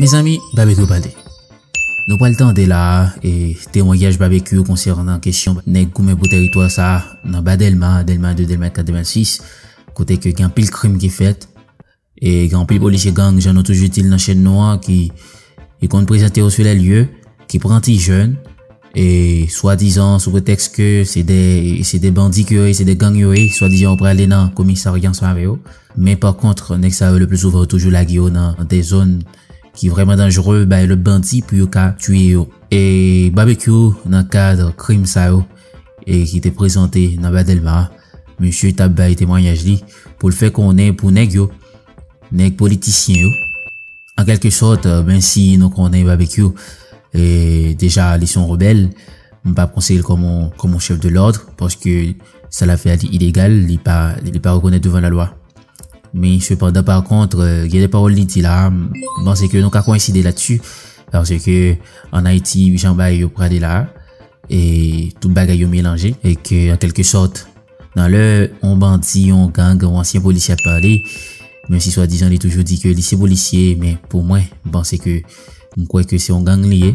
Mezanmi Babekyou pale. Nou pral tande la a e temwanyaj Babekyou konsènan kesyon nèg goumen pou tèritwa sa a nan ba Dèlma, Dèlma 2, Dèlma 4, Dèlma 6, kote ke gen anpil krim ki fèt e gen anpil polisye gang jan nou toujou di l nan chèn nou an ki konn prezante yo sou lè lye, ki pran ti jèn e swadizan sou pretèks ke se de bandi ke yo ye, se de gang yo ye, swadizan yo prale nan komisarya ansanm avè yo. Men pa kontr, nèg sa yo le pli souvan yo toujou lage yo nan de zòn ki vrèman danjre bay lòt bandi pou yo ka tiye yo. E Babekyou nan kadr krim sa yo e ki te prezante nan ba Dèlma a, misye tap bay temwanyaj li pou l fè konnen pou nèg yo, nèg politisyen yo, an kèlke sòt men si nou konnen Babekyou e deja li son rebèl, m pap konseye l kòm on chèf de lòdr paske sa la fè a li ilegal, li pa li pa rekonèt devan la lwa. Men sepandan pa kontr, euh, gen de pawòl li di la, mwen se ke nou ka koenside la tsu, parce ke an Ayiti, jan bay yo prale la, e tout bagay yo melanje, e ke an kelke sòt, nan lè yon bandi, yon gang, yon ansyen polisye ap pale, men si swa dizan li toujou di ke li se polisye, men pou mwen, mwen se ke, mwen kwè ke se yon gang li ye,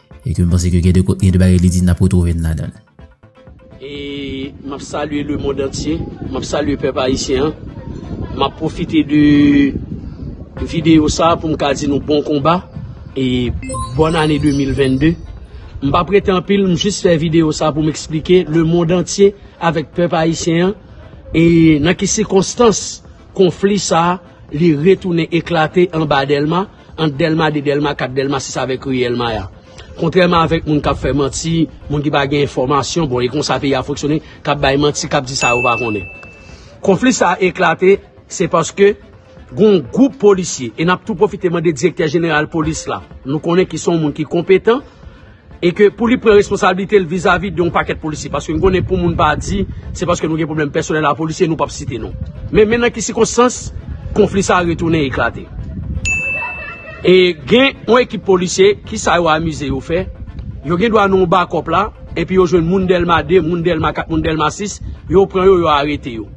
E ke m panse ke gen de kote, gen de bagay li di nap retrouve n ladan l. E map salye le mond antye, map salye pèp ayisyen an. Map pwofite de videyo sa pou m ka di nou bon konba e bòn ane 2022. M pa prete anpil, m jis fè videyo sa pou m eksplike le mond antye avèk pèp ayisyen an e nan ki sikonstans. Konfli sa a, li retounen eklate anba Dèlma, ant Dèlma 2, Dèlma 4, Dèlma 6 avèk ri El Maya. Kontrèman avèk moun k ap fè manti, moun ki pa gen enfòmasyon, bon e konsa peyi a fonksyone, k ap bay manti, k ap di sa yo pa konnen. Konfli sa a eklate, se paske gon gwoup polisye, e n ap tou pwofite mande direktè jeneral polis la, nou konnen ki s on moun ki konpetan, E ke pou li pran responsablite l vizavi de yon pakèt polisye. Paske nou konnen pou moun pa di, se paske nou gen pwoblèm pèsonèl a polisye, nou pap site non. Men men nan ki sikonstans konfli sa retounen eklate. E gen yon ekip polisye, ki sa yo amize yo fè? Yo gen dwa nan yon bakòp la, epi yo jwenn moun Dèlma 2, moun Dèlma 4, moun Dèlma 6, yo pran yo, yo arete yo.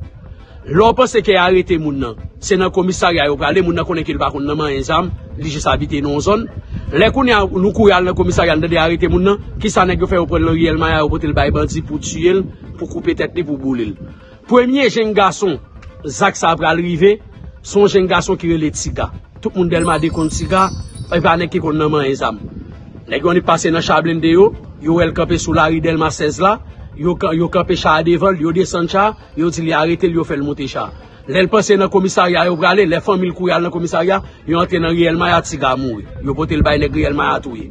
Lè w panse ke arete moun nan, se nan komisarya yo prale, moun nan konnen ke li pa konn nan manyen zam, li jis abite nan yon zòn. Lè kounye a nou kouri al nan komisarya nou tande arete moun nan, kisa nèg yo fè yo pran l nan riyèl maya yo pote l bay bandi pou tiye l, pou koupe tèt li, pou boule l. Premye jenn gason zak sa pral rive, se yon jenn gason ki rele Tiga. Tout moun Dèlma 2 konn Tiga, e pa nèg ki konn nan manyen zam. Nèg yo annik pase nan cha blende yo, yo wè l kanpe sou lari Dèlma 16 la, yo kanpe cha a devan l, yo desann cha a, Yo di li arete l yo fè l monte cha. Lè l panse nan komisarya yo prale, lè fanmi l kouri al nan komisarya, yo antre nan riyèl maya tiga mouri. Yo pote l bay nèg riyèl maya touye.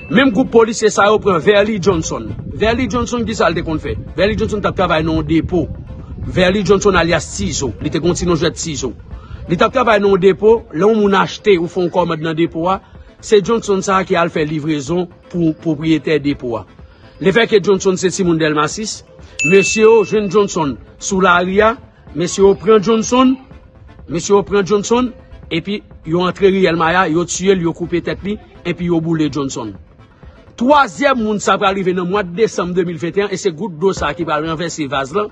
Menm gwoup polisye sa yo pran Verly Johnson. Verly Johnson ki sa l te konn fè? Verly Johnson t ap travay nan yon depo. Verly Johnson alyas Tizo. Li te gen yon ti non jwèt Tizo. Li t ap travay nan yon depo, lè yon moun achte ou fè yon kòmand nan depo a, se Johnson sa ki al fè livrezon. pou pwopriyetè depo a. Lefètke Johnson se timoun Dèlma 6, mesye yo jwenn Johnson sou lari a, mesye yo pran Johnson, mesye yo pran Johnson, epi yo antre riyèl Maya, yo tiye l, yo koupe tèt li, epi yo boule Johnson. Twazyèm moun sa pral rive nan mwad desanm 2021 e se gout dlo sa ki pral ranvèse vaz lan.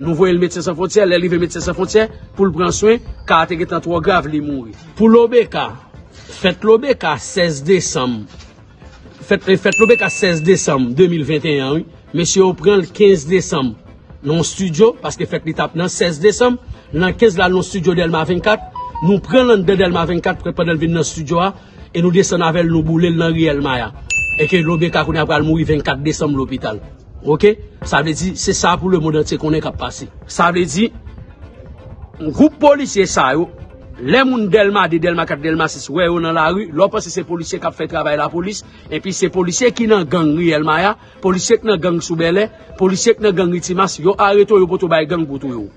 Nou voye l Medsen San Fwontyè, lè l rive Medsen San Fwontyè pou l pran swen, ka a te gentan twò grav, li mouri. Pou Lobeka, Fèt Lobeka 16 desanm Fèt Lobeka 16 desanm 2021 an wi, mesye yo pran l 15 desanm nan yon stidyo, paske fèt li t ap nan 16 desanm, nan 15 l al nan yon stidyo Dèlma 24, nou pran l anndan Dèlma 24 prè pandan l vin nan stidyo a, e nou desann avè l nou boule l nan Riyèl Maya, e ke Lobeka kounye a pral mouri 24 desanm lopital. Ok, sa vle di se sa pou lemond antye konnen kap pase. Sa vle di, gwoup polisye sa yo, lè moun Dèlma 2, Dèlma 4, Dèlma 6 wè yo nan lari, lè w panse se polisye kap fè travay lapolis, enpi se polisye ki nan gang Riyèl Maya, polisye k nan gang sou Bèlè, polisye k nan gang Ritimas, yo arete w, yo pote w bay gang pou touye w.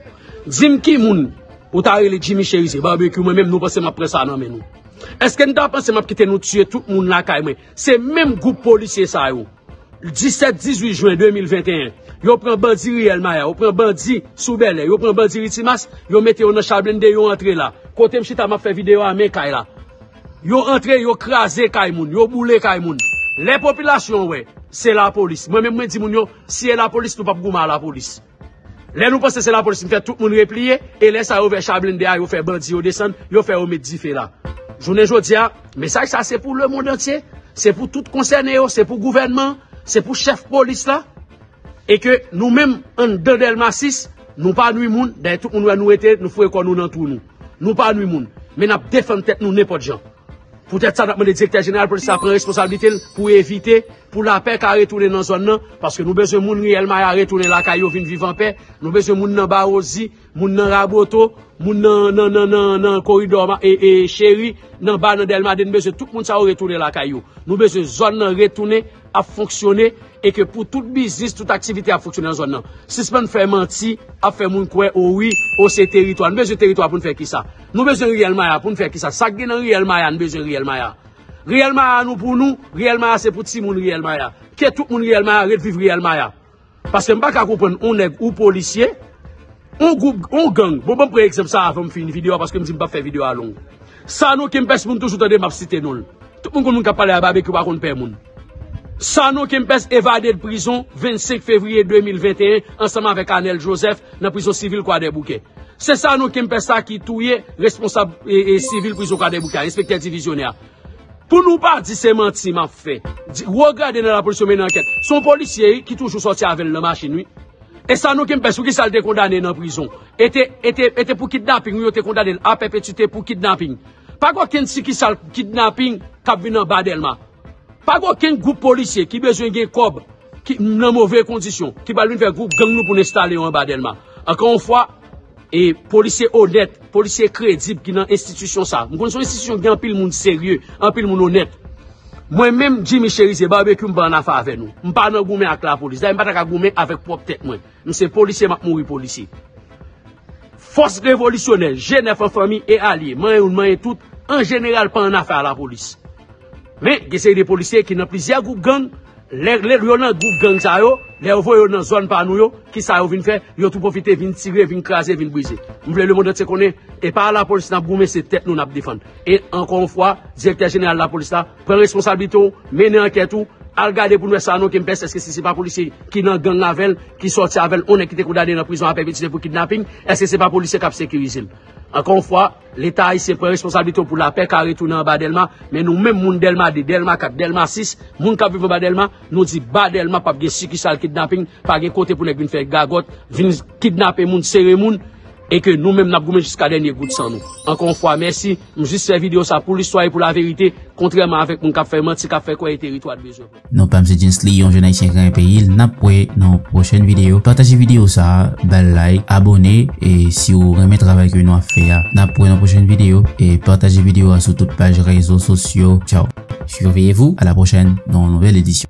Di m ki moun ou ta rele Jimmy Cherizier, Barbecue, mwen menm nou panse m ap pran sa nan men nou? Eske nou ta panse m ap kite nou tiye tout moun lakay mwen? Se menm gwoup polisye sa yo, 17, 18 jwen 2021, yo pran bandi ri El Maya, yo pran bandi sou Bèlè, yo pran bandi ri Timas, yo mete yo nan cha blende, yo antre la. Kote m chita m ap fè videyo a, men kay la. Yo antre, yo kraze kay moun, yo boule kay moun. Lè popilasyon wè, se lapolis. Mwen menm mwen di moun yo, si e lapolis nou p ap goumen a lapolis. Lè nou panse se lapolis mfè tout moun repliye e lè sa yo vè cha blende a yo fè bandi yo desann yo fè yo met dife la jounen jodia mesaj sa se pou le mond antye se pou tout konsène yo se pou gouvènman se pou chèf polis la e ke nou menm anndan delma 6 nou pa nwi moun dayè tout moun wè nou rete nou foure kò nou nan twou nou nou pa nwi moun men nap defann tèt nou nenpòt jan. Poutèt sa, n ap mande Direktè Jeneral Polis la pran responsablite l pou evite pou lapè ka retounen nan zòn nan, paske nou bezwen moun Riyèl Maya retounen lakay yo vin viv anpè, nou bezwen moun nan Bawozi, moun nan Raboto, moun nan Koridò Cheri, nan Ba, nan Dèlma 2, nou bezwen tout moun sa yo retounen lakay yo. Nou bezwen zòn nan retounen. ap fonksyone e ke pou tout biznis, tout aktivite ap fonksyone nan zòn nan. Sispann fè manti, ap fè moun kwè o wi, o se teritwa. Nou bezwen teritwa pou nou fè kisa? Nou bezwen Riyèl Maya pou nou fè kisa? Sa k gen nan Riyèl Maya nou bezwen Riyèl Maya? Riyèl Maya nou pou nou, Riyèl Maya se pou timoun Riyèl Maya. Ke tout moun Riyèl Maya ret viv Riyèl Maya. Paske m paka konprann on nèg ou polisye, on gwoup, on gang, bon banm pran egzanp sa avanm fini video a paske m di m pap fè video a long. Sanon Kempès moun toujou tande map site non l. Tout moun konn moun kap pale a Babekyou pa konn pè moun. Sanon Kempès evade de prizon 25 fevriye 2021 ansanm avèk Anel Joseph nan prizon sivil Kwadèboukè. Se Sanon Kempès sa ki touye responsab sivil prizon Kwadèboukè a, enspektè divizyonè a. Pou nou pa di se manti map fè, di wo grade nan lapolis yo mennen ankèt. Son polisye wi ki toujou sòti avèl nan machin wi. E sa nou ki m pès pou kisa l te kondane nan prizon. E te e te e te pou kidnaping wi yo te kondane l a pèpetite pou kidnaping. Pa gen okenn sikisal kidnaping kap vin anba Dèlma. Pa gen okenn gwoup polisye ki bezwen gen kòb ki nan move kondisyon, ki pral vin fè gwo gang nou pou n enstale yo anba Dèlma. Ankò yon fwa, e polisye onèt, polisye kredib ki nan enstitisyon sa a, m konn se yon enstitisyon ki gen anpil moun serye, anpil moun onèt. Mwen menm, Jimmy Cherizier, Barbecue, m pa ann afe avè nou. M pa nan goumen ak lapolis. Dayè, m pa ta ka goumen avèk pwòp tèt mwen. M se polisye, m ap mouri polisye. Fòs revolisyonè, G9 an fanmi e alye, manyen youn manyen tout, an jeneral pa ann afe a lapolis. Men, gen seri de polisye ki nan plizyè gwoup gang, lè yo nan gwoup gang sa yo, lè yo voye yo nan zòn pa nou yo, ki sa yo vin fè? Yo tou pwofite vin tire, vin kraze, vin brize. M vle lemondantye konnen, e pa lapolis n ap goumen, se tèt nou n ap defann. E, ankò yon fwa, direktè jeneral lapolis la, pran responsablite w, mennen ankèt ou, al gade pou n wè sa non Kempès, èske si se pa polisye ki nan gang avè l, ki sòti avè l, yon nèg ki te kondane nan prizon a pèpetre pou kidnaping, èske se pa polisye k ap sekirize l? Ankò yon fwa. Leta ayisyen pran responsablite w pou lapè ka retounen anba Dèlma, men nou menm moun Dèlma 2, Dèlma 4, Dèlma 6, moun k ap viv anba Dèlma, nou di ba Dèlma p ap gen sikisal kidnaping, pa gen kote pou nèg vin fè gagòt, vin kidnape moun, sere moun, e ke nou menm n ap goumen jiska dènye gout san nou. Ankò yon fwa mèsi, m jis fè videyo sa pou listwa e pou laverite, kontrèman avèk moun k ap fè manti, k ap fè kwè e teritwa t bezwen. Non pam se Gensly yon jèn ayisyen krayen peyil nap wè nan yon pwochèn videyo pataje videyo sa bal like abone e siw renmen travay ke nou ap fè a nap wè nan pwochèn videyo e pataje videyo a sou tout paj rezo sosyo tchaww. Surveillez vous à la prochaine dans nouvelle édition.